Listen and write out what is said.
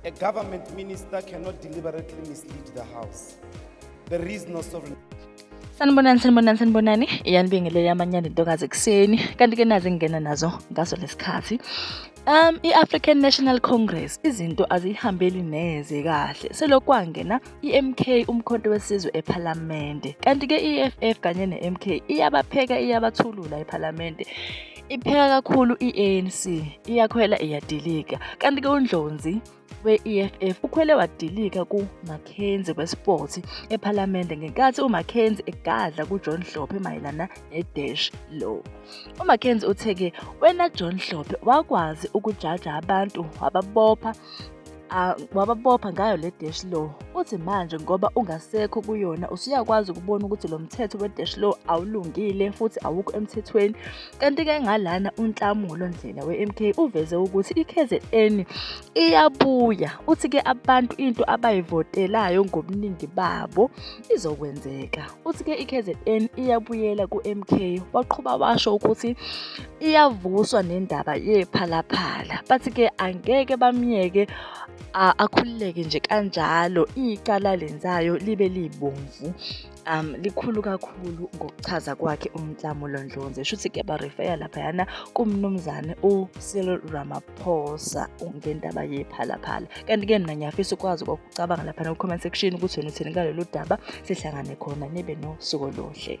A government minister cannot deliberately mislead the House. There is no sovereign. sanibonani sanibonani sanibonani iyanibingelela amanyanda intokazi ekuseni kanti ke nazi ngingena nazo ngaso lesikhathi um i-african national congress izinto aziyihambeli neze kahle selokwangena i-mk umkhonto wesizwe ephalamende kanti ke i-eff kanye ne-mk iyabapheka iyabathulula ephalamende Ipheka kakhulu i-ANC, iyakhwela iyadilika. Kanti-ke uNdlonzi we-EFF ukhwele wadilika kuMackenzie weSport ePhalamende ngenkathi uMackenzie egadla kuJohn Hlophe mayelana ne-dash law. UMackenzie uthe-ke wena John Hlophe wakwazi ukujaja abantu wababopha Ah, wababopha ngayo le dash law uthi manje ngoba ungasekho kuyona usuyakwazi ukubona ukuthi lo mthetho we-dash law awulungile futhi awukho emthethweni kanti-ke ngalana unhlamulo ndlela we-mk uveze ukuthi i-kzn iyabuya uthi-ke abantu into abayivotelayo ngobuningi babo izokwenzeka uthi-ke i-kzn iyabuyela ku-mk waqhuba washo ukuthi iyavuswa nendaba yephalaphala bathi ke angeke bamyeke akhululeke nje kanjalo icala lenzayo libe libomvu um likhulu kakhulu ngokuchaza kwakhe umnhlamulo ndlonze shuthi kuyabarefeya laphayana kumnumzane ucyril ramaphosa ngendaba yephalaphala kanti-ke mna ngiyafisa ukwazi ukucabanga laphana ku-comment section ukuthi wena uthini ngalolu daba sihlangane khona nibe nosuku oluhle